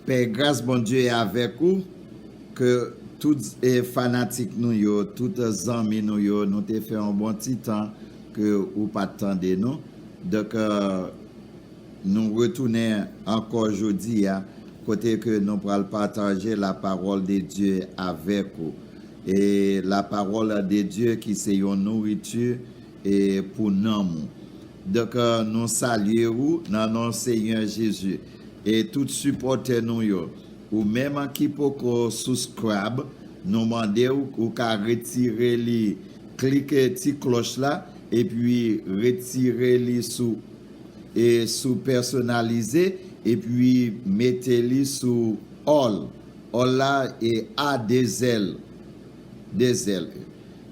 Pè gras Bondye avèk ou ke tout fanatik nou yo tout zanmi nou yo nou te fè yon bon ti tan ke ou pat tande nou donk nou retounen ankò jodi a kote ke nou pral pataje la pawòl de Dye avèk ou e la pawòl de Dye ki se yon nouriti E pou nanm ou. Donk nou salye ou nan non Senyè Jezi. E tout sipòtè nou yo. Ou menm ki poko souskrab, nou mande ou ou ka retire li klike ti klòch la epi retire li sou e sou pèsonalize epi mete li sou all all la e a 2 zèl. de zèl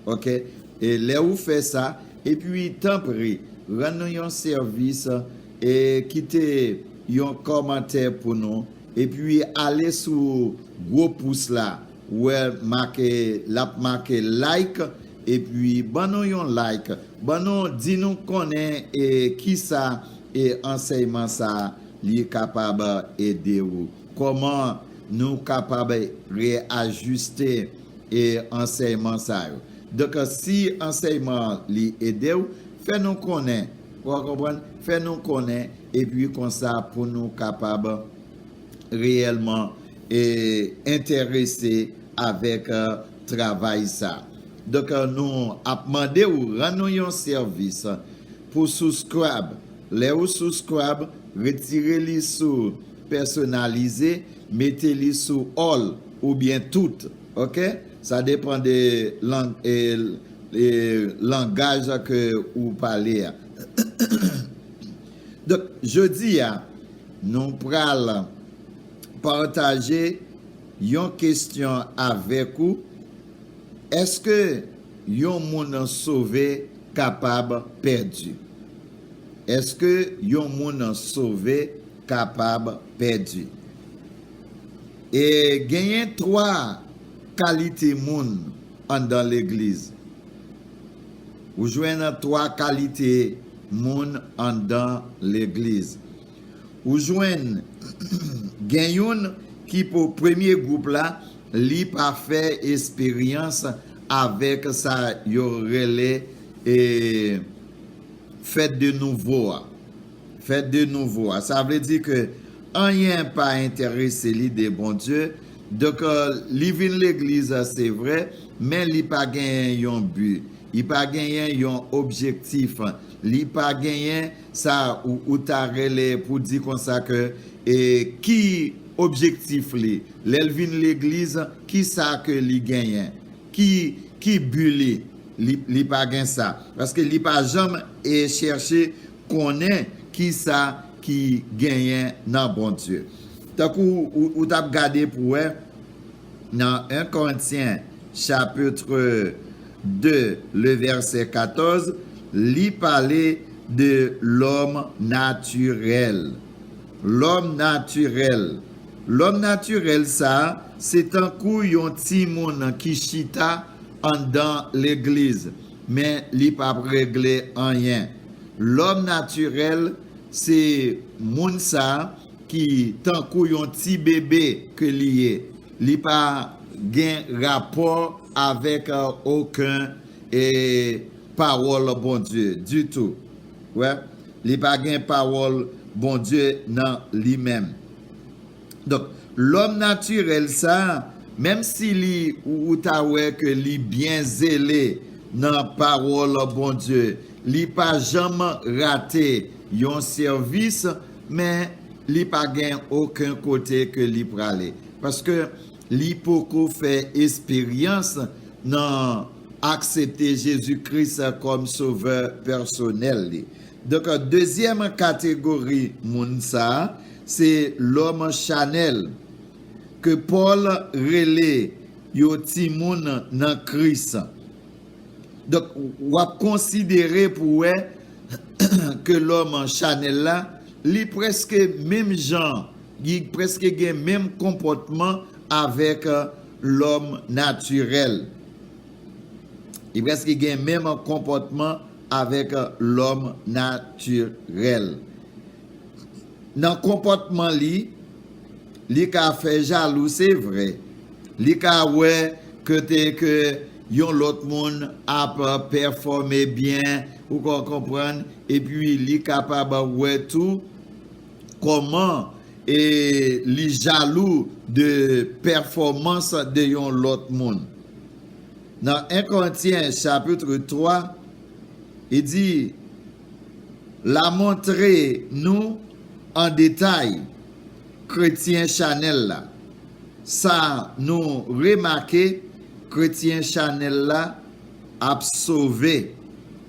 ok e lè ou fè sa epi tanpri rann nou yon sèvis e kite yon kòmantè pou nou epi ale sou gwo pous la wè make lap make like epi ban nou yon like ban nou di nou konnen e kisa e ansèyman sa li kapab ede ou. Kòman nou kapab reajiste ansèyman sa yo? Donk, si ansèyman an li ede w, fè nou konnen, ou konprann, fè nou konnen, epi konsa pou nou kapab reyèlman enterese avèk travay sa. Donk, nou ap mande ou rann nou yon sèvis pou subscribe. Lè ou subscribe, retire li sou Pèsonalize, mete li sou all oubyen tout ok sa depan de lang e langaj ke ou pale a donk jodi a nou pral pataje yon kestyon avèk ou eske yon moun sove kapab pèdi eske yon moun sove kapab pèdi. E genyen twa kalite moun anndan legliz. Ou jwenn twa kalite moun anndan legliz. Ou jwenn gen youn ki pou premye gwoup la, li pa fè esperyans avèk sa yo rele fèt de nouvo a. Fèt de nouvo a. Sa vle di ke anyen pa enterese li de Bondye. Donk, li vin legliz se vre, men li pa genyen yon bi. Li pa genyen yon objektif. Li pa genyen sa ou ta rele pou di konsa ke ki objektif li. Lè l vin legliz, ki sa ke li genyen? Ki bi li? Li pa gen sa. Paske li pa janm chèche konnen kisa ki genyen nan Bondye. Tankou ou t ap gade pou wè nan 1 Korentyen chapitre 2 le vèsè 14, li pale de lòm natirèl. Lòm natirèl. Lòm natirèl sa a, se tankou yon timoun ki chita anndan legliz. Men li pap regle anyen. Lòm natirèl se moun sa ki tankou yon ti bebe ke li ye. Li pa gen rapò avèk oken pawòl Bondye ditou. Ou wè? Li pa gen pawòl Bondye nan li menm. Donk lòm natirèl sa, menm si li ou ta wè ke li byen zele nan pawòl Bondye, li pa janm rate yon sèvis, men li pa gen oken kote ke li prale. Paske li poko fè esperyans nan aksepte Jezi Kris kòm sovè pèsonèl li. Donk dezyèm kategori moun sa, Se lòm chanèl, ke Pòl rele yo timoun nan Kris. Donk, w ap konsidere pou w wè ke lòm chanèl la, li prèske menm jan, li prèske gen menm konpòtman avèk lòm natirèl. Li prèske gen menm konpòtman avèk lòm natirèl. nan konpòtman li, li ka fè jalou se vre, li ka wè kote ke yon lòt moun ap pèfòme byen, ou ka konprann, epi li kapab wè tou kòman li jalou de pèfòmans de yon lòt moun. Nan 1 Korentyen chapitre 3, li di. la montre nou an detay kretyen chanèl la sa nou remake kretyen chanèl la ap sove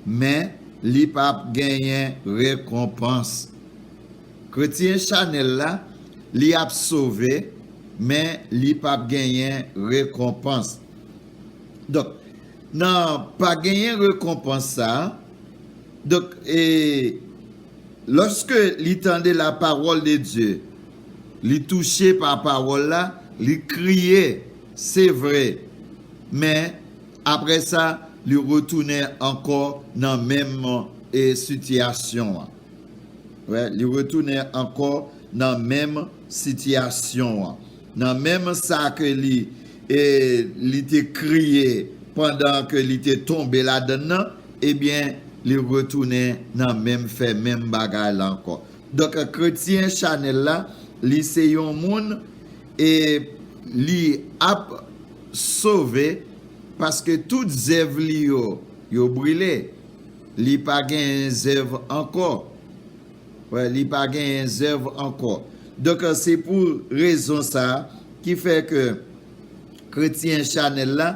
men li pap genyen rekonpans kretyen chanèl la li ap sove men li pap genyen rekonpans donk nan pa genyen rekonpans sa. Donk, e, lòske li tande lapawòl de Dye, li touche pa pawòl la, li kriye, se vre, men, apre sa, li retounen ankò nan menm, e, sitiyasyon an. Wè, li retounen ankò nan menm sitiyasyon an. Nan menm sa ke li e li te kriye pandan ke li te tonbe ladann nan, ebyen li retounen nan menm fè menm bagay la ankò. Donk kretyen chanèl la, li se yon moun e li ap sove paske tout zèv li yo, yo brile. Li pa gen zèv ankò. Wè li pa genyen zèv ankò. Donk se pou rezon sa ki fè ke kretyen chanèl la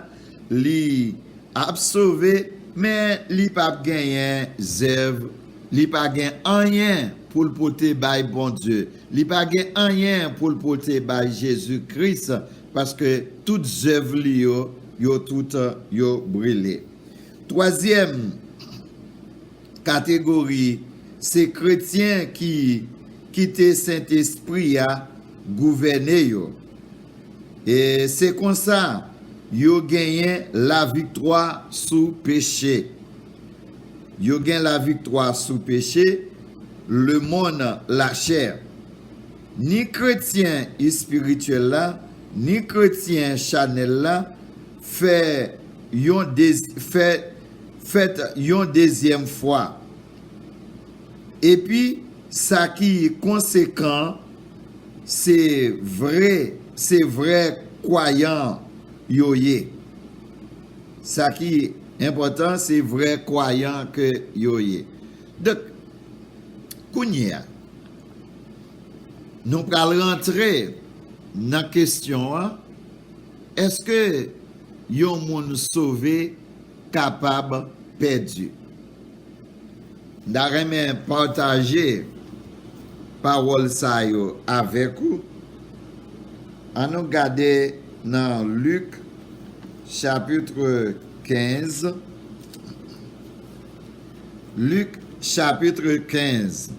li ap sove men li pap genyen zèv, li pa gen anyen pou l pote bay Bondye, li pa gen anyen pou l pote bay Jezi Kris paske tout zèv li yo, yo tout yo brile. Twazyèm. Kategori, Se kretyen ki kite Sentespri a gouvène yo. E se konsa yo genyen laviktwa sou peche. Yo gen laviktwa sou peche, lemonn, lachè. Ni kretyen espirityèl la, ni kretyen chanèl la fè yon fè fèt yon dezyèm fwa. Epi sa ki konsekan se vre se vrè kwayan yo ye. Sa ki enpòtan se vrè kwayan ke yo ye. Donk kounye a nou pral rantre nan kesyon an. Èske yon moun sove kapab pèdi? M ta renmen pataje pawòl sa yo avèk ou. Annou gade nan Lik chapitre 15, Lik chapitre 15.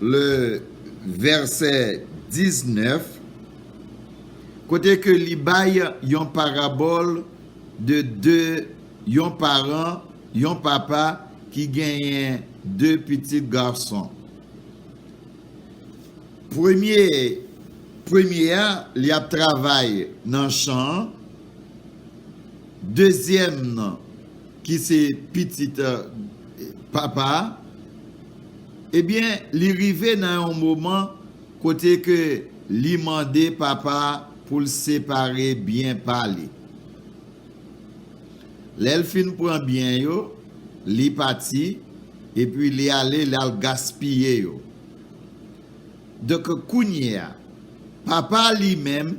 Le vèsè 19, kote ke li bay yon parabòl de de yon paran, yon papa ki genyen de pitit gason. Premye, premye a, li ap travay nan chan an, dezyèm nan. ki se pitit Papa a, ebyen li rive nan yon moman kote ke li mande Papa a pou l separe byen pa li. Lè l fin pran byen yo, li pati, epi li ale li al gaspiye yo. Donk kounyeya, Papa a li menm,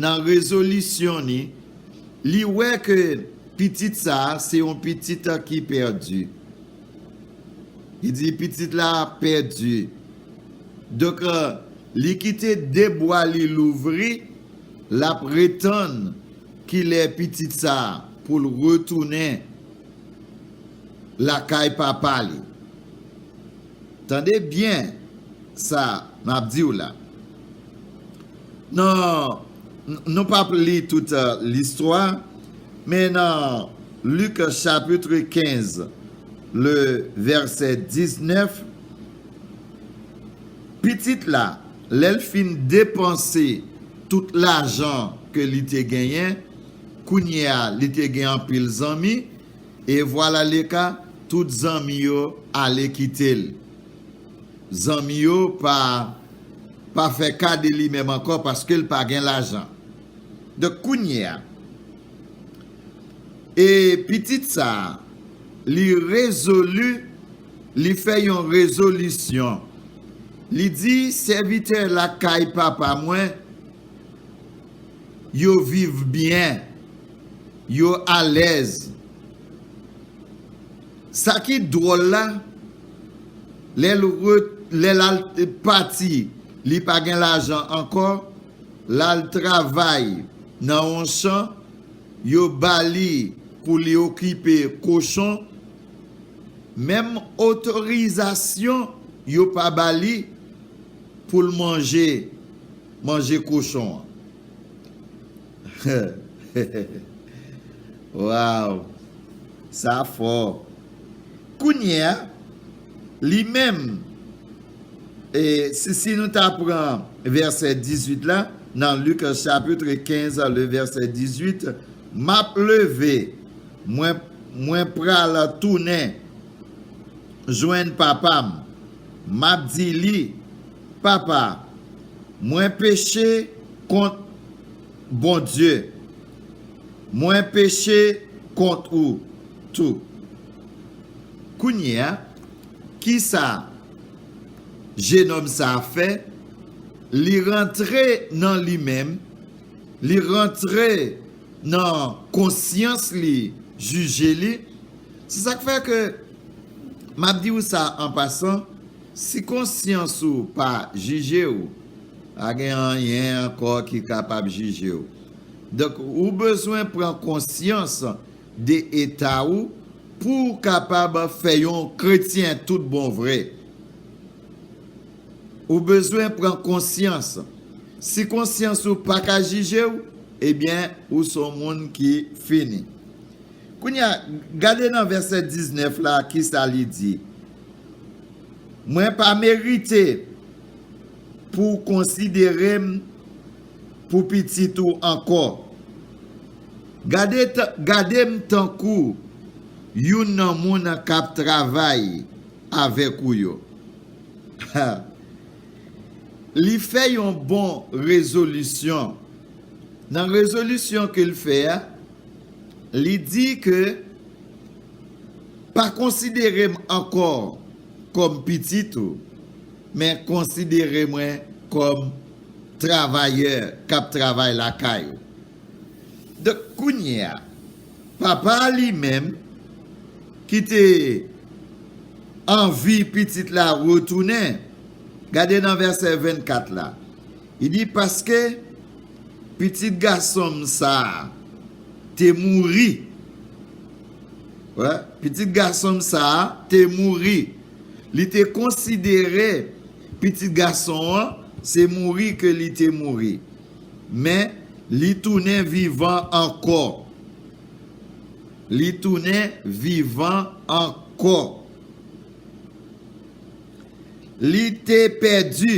nan rezolisyon ni, li wè ke pitit sa a se yon pitit ki pèdi. Li di pitit la pèdi. Donk, li kite de bwa li louvri, l ap retann kilè pitit sa a pou l retounen lakay papa li. Tande byen sa m ap di w la. Nan Nou pap li tout listwa men nan Luc chapitre 15 le vèsè 19 pitit la lèl fin depanse tout lajan ke li te genyen kounyea li te gen anpil zanmi e vwalaleka tout zanmi yo ale kitel. Zanmi yo pa pa fè ka de li menm ankò paske l pa gen lajan. Donk kounye a e pitit sa li rezolu li fè yon rezolisyon li di sèvitè lakay papa mwen yo viv byen yo alèz. Sa ki dwòl la, lè l ret, lè l al pati, li pa gen lajan ankò, l al travay nan yon chan, yo ba li pou li okipe kochon, menm otorizasyon yo pa ba li pou l manje, manje kochon an. Waww sa fò Kounyea li menm si si nou ta pran vèsè 18 la nan Luc chapitre 15 le vèsè 18 map leve mwen mwen pral tounen jwenn papam map di li papa mwen peche kont Bondye, mwen peche kont ou tou. Kounyeya, ki sa jenòm sa a fè? Li rantre nan li menm, li rantre nan konsyans li, jije li. Se sa k fè ke m ap di ou sa an pasan, si konsyans ou pa jije ou, Pa gen anyen ankò ki kapab jije ou. Donk, ou bezwen pran konsyans de eta ou pou ou kapab fè yon kretyen tout bon vre. Ou bezwen pran konsyans. Si konsyans ou pa ka jije ou, ebyen, ou s on moun ki fini. Kounye a, gade nan vèsè 19 la, ki sa li di, Mwen pa merite. Pou w konsidere m pou pitit ou ankò. Gade m tankou youn nan moun k ap travay avèk ou yo. Ha! Li fè yon bon rezolisyon. Nan rezolisyon ke l fè a, li di ke, Pa konsidere m ankò kòm pitit ou. Men konsidere mwen kòm travayè k ap travay lakay ou. Donk, kounye a, papa a li menm, ki te anvi pitit la retounen, gade nan vèsè 24 la, li di, Paske pitit gason m sa a te mouri, wè, pitit gason m sa a te mouri. Li te konsidere Pitit Gason an se mouri ke Li te mouri, men Li tounen vivan ankò. Li tounen vivan ankò. Li te pèdi,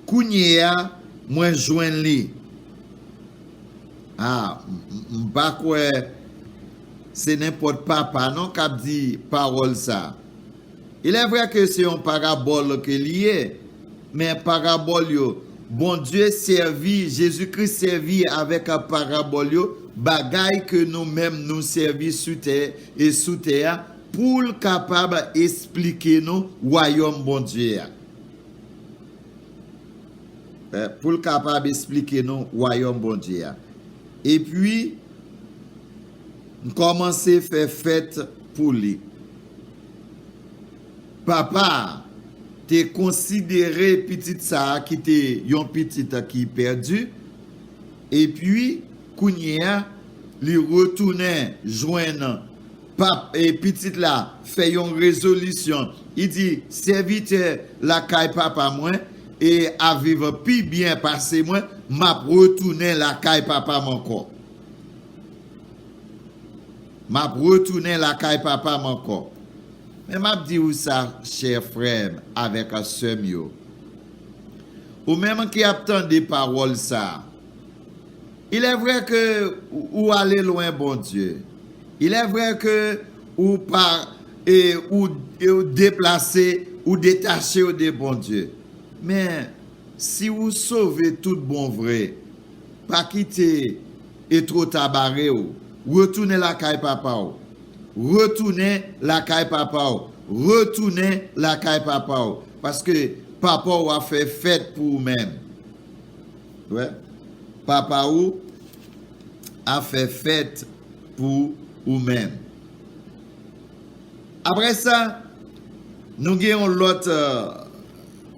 kounyeya mwen jwenn Li. A, m pa kwè. Se nenpòt papa non kap di pawòl sa. Il est vrai que se yon parabole ke li ye, men parabòl yo, Bondye sèvi, Jezi Kris sèvi avèk parabòl yo, bagay ke nou menm nou sèvi sou tè e sou tè a, poul kapab esplike nou wayòm Bondye a. Poul kapab esplike nou wayòm Bondye a. Epi. M kòmanse fè fèt pou li. Papa a te konsidere pitit sa a ki te yon pitit ki pèdi, epi kounye a li retounen jwenn pitit la fè yon rezolisyon, li di, Sèvitè lakay papa mwen E a viv pi byen pase mwen map retounen lakay papam ankò map retounen lakay papam ankò men map di ou sa chè frèm avèk sèm yo ou menm ki ap tande pawòl sa ilè vrè ke ou ale lwen Bondye ilè vrè ke Ou pa e ou e ou deplase ou detache ou de Bondye. Men, si ou sove tout bon vre, pa kite e two ta bare ou. Retounen lakay Papa ou. Retounen lakay Papa ou. Retounen lakay Papa ou. Paske Papa ou a fè fèt pou ou menm. Ou wè? Papa ou a fè fèt. Pou ou menm. Apre sa, nou gen yon lòt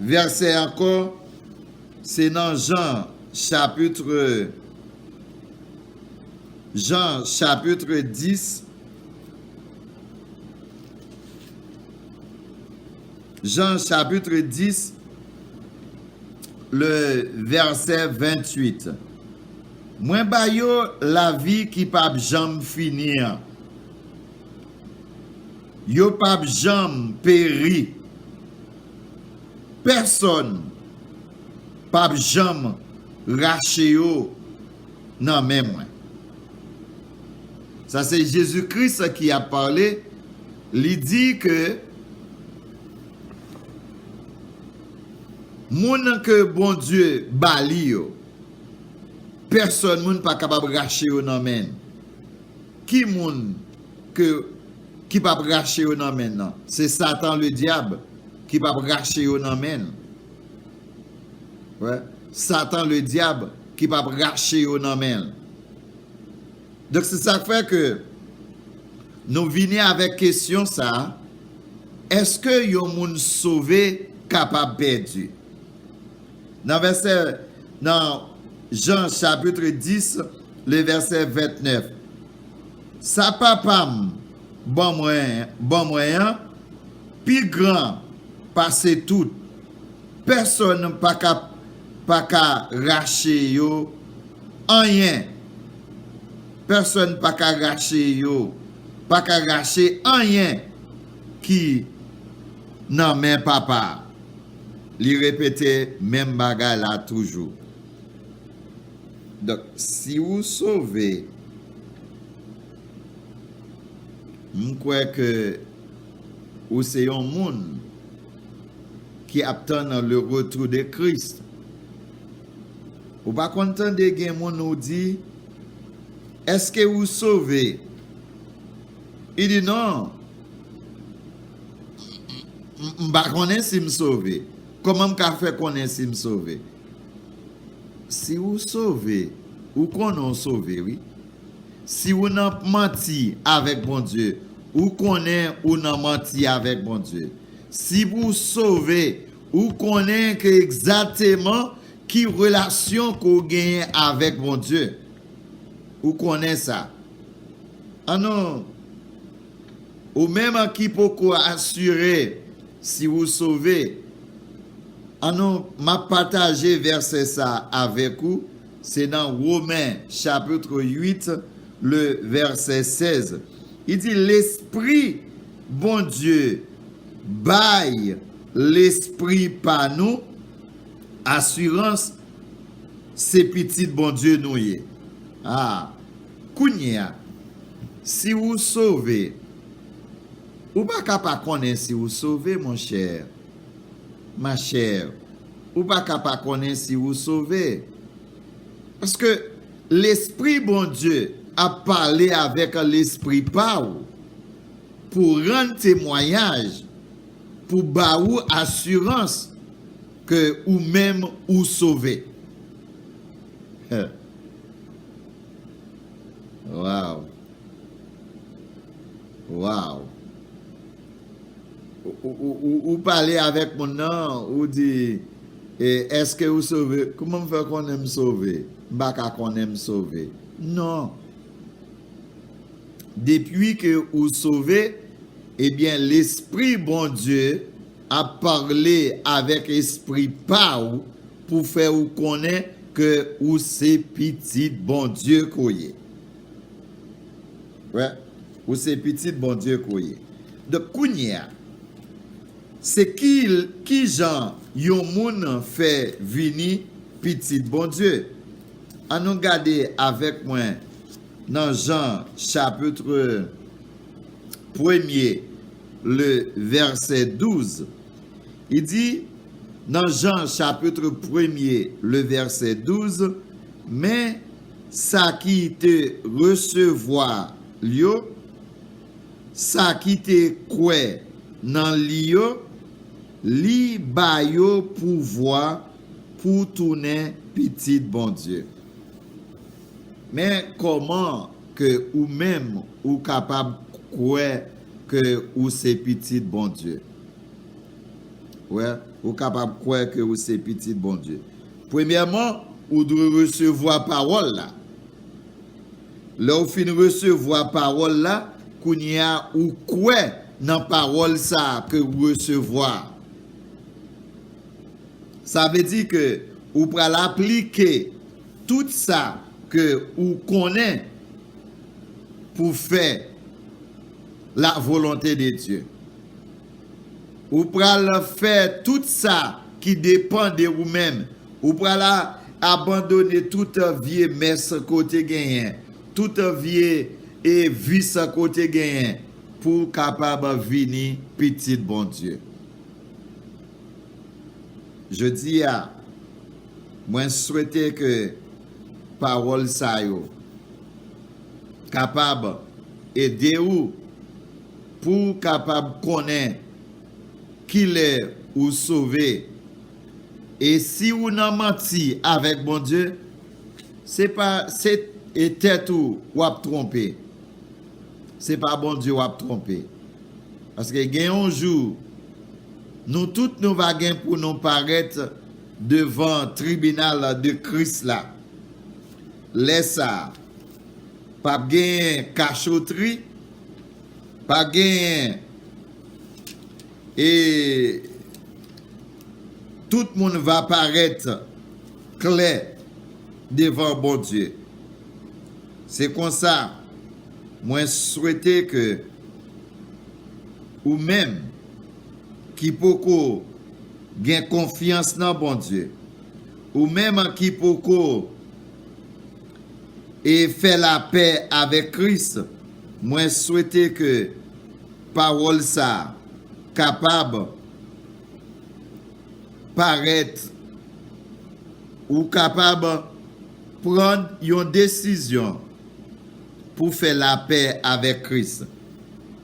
vèsè ankò, se nan Jan chapitre, Jan chapitre 10, Jan chapitre 10, le vèsè 28. Mwen ba yo lavi ki pap janm fini an. Yo pap janm peri. Pèsòn pap janm rache yo nan men mwen. Sa se Jezi Kris ki ap pale, li di ke moun ke Bondye ba li yo. Pèsòn moun pa kapab rache yo nan men n. Ki moun ke ki p ap rache yo nan men n nan? Se Satan Ledyab ki p ap rache yo nan men n. Wè, Satan Ledyab ki p ap rache yo nan men l. Donk se sa k fè ke nou vini avèk kesyon sa a, Èske yon moun sove kapab pèdi? Nan vèsè nan Jan chapitre 10 le vèsè 29 Sa Papa m ban mwen ban mwen an pi gran pase tout, pèsòn pa ka pa ka rache yo anyen pèsòn pa ka rache yo pa ka rache anyen ki nan men Papa a. Li repete menm bagay la toujou. Donk si ou sove m kwè ke ou se yon moun ki ap tann le retour de Christ. Ou pa konn tande gen moun ou di eske ou sove? Li di non, m pa konnen si m sove. Kòman m ka fè konnen si m sove? Si ou sove, ou konnen ou sove wi. Si ou nan manti avèk Bondye, ou konnen ou nan manti avèk Bondye. Si pou w sove, ou konnen ke egzateman ki relasyon ke w genyen avèk Bondye. Ou konnen sa. An nou. Ou menm an ki poko asire si wou sove, an nou, m ap pataje vèsè sa a avèk ou, se nan Women chapitr 8 le vèsè 16. Li di, Lespri Bondye bay lespri pa nou asirans. Se pitit Bondye nou ye. A. Kounye a, si ou sove, ou pa ka pa konnen si ou sove, monchè, machè. Ou pa ka pa konnen si ou sove. Paske, Lespri Bondye ap pale avèk lespri pa ou, pou rann temwayaj, pou ba ou asirans. Ke ou menm ou sove. Huh. Waw. Waw. Ou pale avèk moun nan, ou di, Eske ou sove? Kouman m fè konnen m sove? M pa ka konnen m sove. Non. Depi ke ou sove, ebyen Lespri Bondye ap parle avek espri pa ou pou fè ou konnen ke ou se pitit Bondye ke w ye. Wè, ou se pitit Bondye ke w ye. Donk kounye a, se ki, ki jan yon moun fè vini pitit Bondye? An nou gade avèk mwen nan Jan chapitre premye. le vèsè 12, li di, nan Jan chapitre premye le vèsè 12, Men, sa ki te resevwa L yo, sa ki te kwè nan Li yo, Li ba yo pouvwa pou tounen pitit Bondye. Men kòman ke ou menm ou kapab kwè ke ou se pitit Bondye. Ou wè? Ou kapab kwè ke ou se pitit Bondye. Premyèman, ou dwe resevwa pawòl la. Lè ou fin resevwa pawòl la, kounye a ou kwè nan pawòl sa a ke ou resevwa a. Sa vle di ke ou pral aplike tout sa ke ou konnen pou fè la volonte de Dye. Ou pral fè tout sa ki depan de ou menm. Ou pral abandone tout vye mès ke w te genyen, tout vye vis ke w te genyen pou w kapab vini pitit Bondye. Jodi a, mwen swete ke Pawòl sa yo kapab ede ou pou w kapab konnen kilè ou sove. E si ou nan manti avèk Bondye, se pa se tèt ou w ap twonpe, se pa Bondye w ap twonpe. Paske gen yon jou nou tout nou va gen pou nou parèt Devan tribinal de Kris la. Lè sa a, p ap genyen kachotri, p ap genyen e tout moun va parèt klè devan Bondye. Se konsa, mwen swete ke ou menm ki poko. Gen konfyans nan Bondye. Ou menm ki poko e fè lapè avèk Kris, mwen swete ke pawòl sa kapab parèt ou kapab pran yon desizyon pou fè lapè avèk Kris.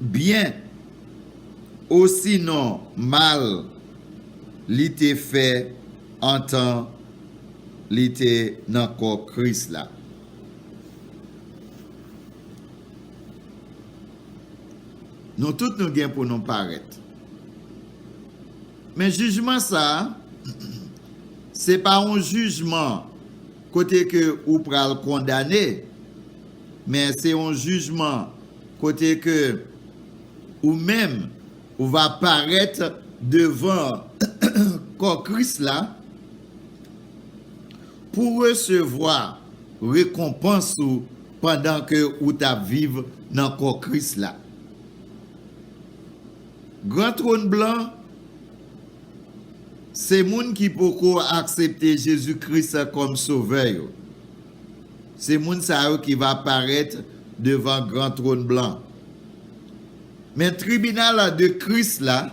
Byen, osinon mal, li te fè antan li te nan kò Kris la. Nou tout nou gen pou nou parèt. Men jijman sa a, se pa yon jijman kote ke ou pral kondane, men se yon jijman. Kote ke ou menm ou va parèt devan kò Kris la pou resevwa rekonpans ou pandan ke ou t ap viv nan kò Kris la. Gran Twòn Blan se moun ki poko aksepte Jezi Kris kòm Sovè yo. Se moun sa yo ki va parèt devan gran twòn blan. Men tribinal de Kris la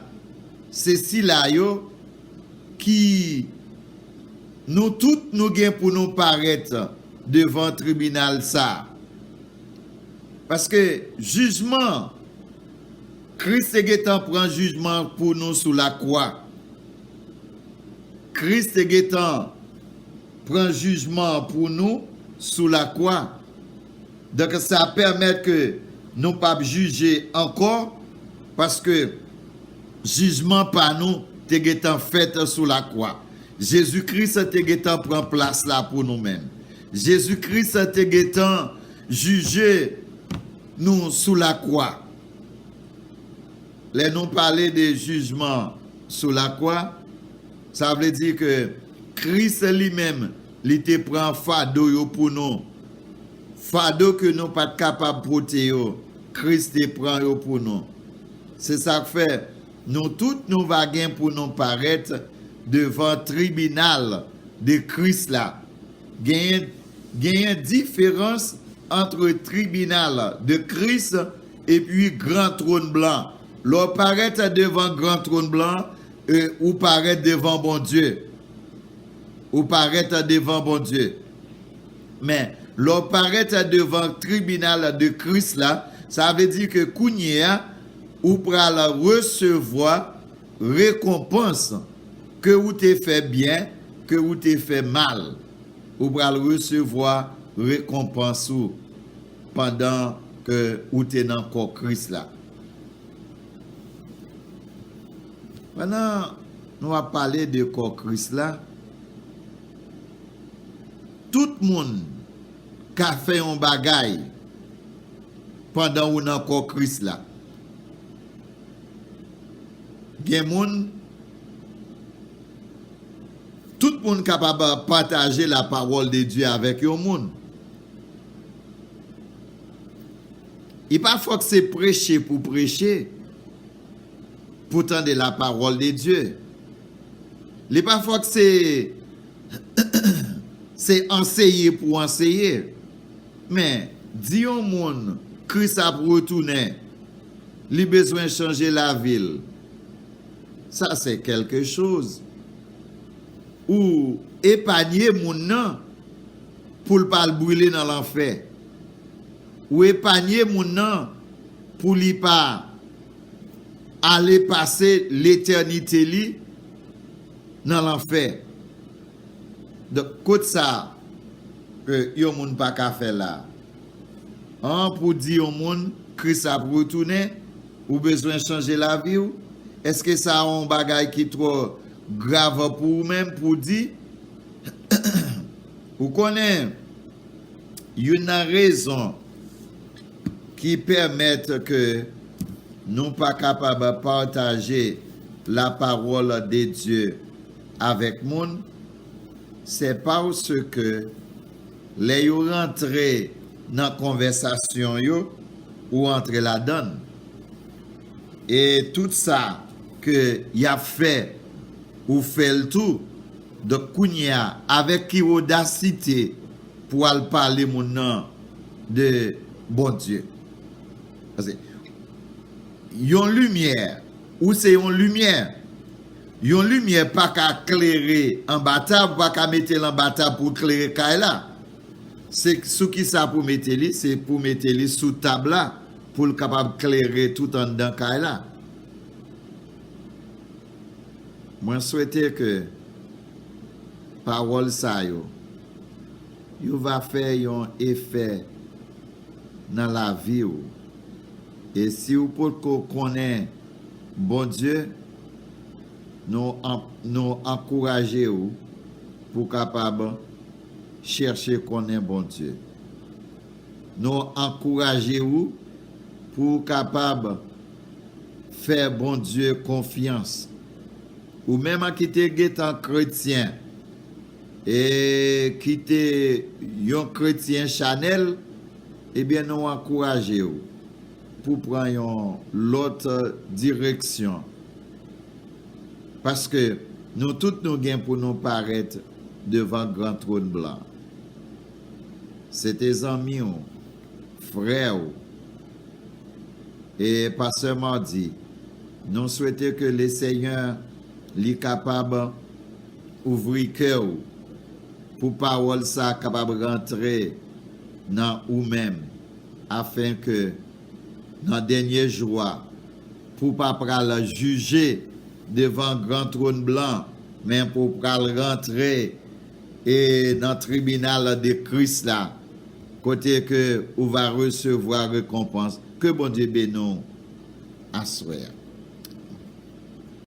se sila yo ki Nou tout nou gen pou nou parèt devan tribinal sa a. Paske jijman Kris te gentan pran jijman pou nou sou lakwa. Kris te gentan. pran jijman an pou nou sou lakwa. Donk sa pèmèt ke nou pa p jije ankò, paske jijman pa nou te gentan fèt sou lakwa. Jezi Kris te gentan pran plas la pou nou menm. Jezi Kris te gentan jije nou sou lakwa. Lè nou pale de jijman sou lakwa, Sa vle di ke Kris li menm li te pran fado yo pou nou. Fado ke nou pa t kapab pote yo, Kris te pran yo pou nou. Se sa k fè, nou tout nou va gen pou nou parèt devan tribinal de Kris la. Genyen genyen diferans antre tribinal de Kris epi gran twòn blan. Lè w parèt devan gran twòn blan, E ou parèt devan Bondye. Ou parèt devan Bondye. Men, lè w parèt devan tribinal de Kris la, sa vle di ke kounye a, ou pral resevwa rekonpans ke ou te fè byen, ke ou te fè mal. Ou pral resevwa rekonpans ou pandan ke ou te nan kò Kris la. Pandan nou ap pale de kò Kris la, tout moun ka fè yon bagay pandan ou nan kò Kris la. Gen moun, tout moun kapab pataje la pawòl de Dye avèk yon moun. E pa fòk se preche pou preche, pou tande la parole de Dieu. Li pa fòk se se anseye pou anseye. Men, di yon moun Kris ap retounen, li bezwen chanje lavi l, sa se kèlke choz. Ou epanye moun nan pou l pa al brile nan lanfè. Ou epanye moun nan pou li pa ale pase letènite li nan lanfè. Donk, kot sa ke yon moun pa ka fè la a? An, pou di yon moun Kris ap retounen, ou bezwen chanje lavi ou? Èske sa a yon bagay ki twò grav pou ou menm pou di? Ou konnen, youn nan rezon ki pèmèt ke nou pa kapab pataje lapawòl de Dye avèk moun, se paske lè yo rantre nan konvèsasyon yo, ou antre ladan l, e tout sa ke y ap fè, ou fè l tou, Donk kounye a avèk ki odasite pou al pale moun nan de Bondye? Pase yon limyè, ou se yon limyè. Yon limyè pa ka klere anba tab, ou pa ka mete l anba tab pou l klere kay la. Se sou ki sa pou mete li? Se pou mete li sou tab la pou l kapab klere tout anndan kay la. Mwen swete ke pawòl sa yo yo va fè yon efè nan lavi ou. E si ou potko konnen Bondye, nou nou ankouraje ou pou w kapab chèche konnen Bondye. Nou ankouraje ou pou ou kapab fè Bondye konfyans. Ou menm an ki te gentan kretyen e ki te yon kretyen chanèl, ebyen nou ankouraje ou pou pran yon lòt direksyon. Paske nou tout nou gen pou nou parèt devan gran twòn blan. Se te zanmi ou, frè ou. E Pasteur Mardy nou swete ke le Senyè li kapab ouvri kè ou pou pawòl sa kapab rantre nan ou menm afen ke nan dènye jou a pou pa pral jije devan gran trône blan men pou pral rantre e nan tribinal de Kris la, kote ke ou va resevwa rekonpans. Ke Bondye beni w aswè a.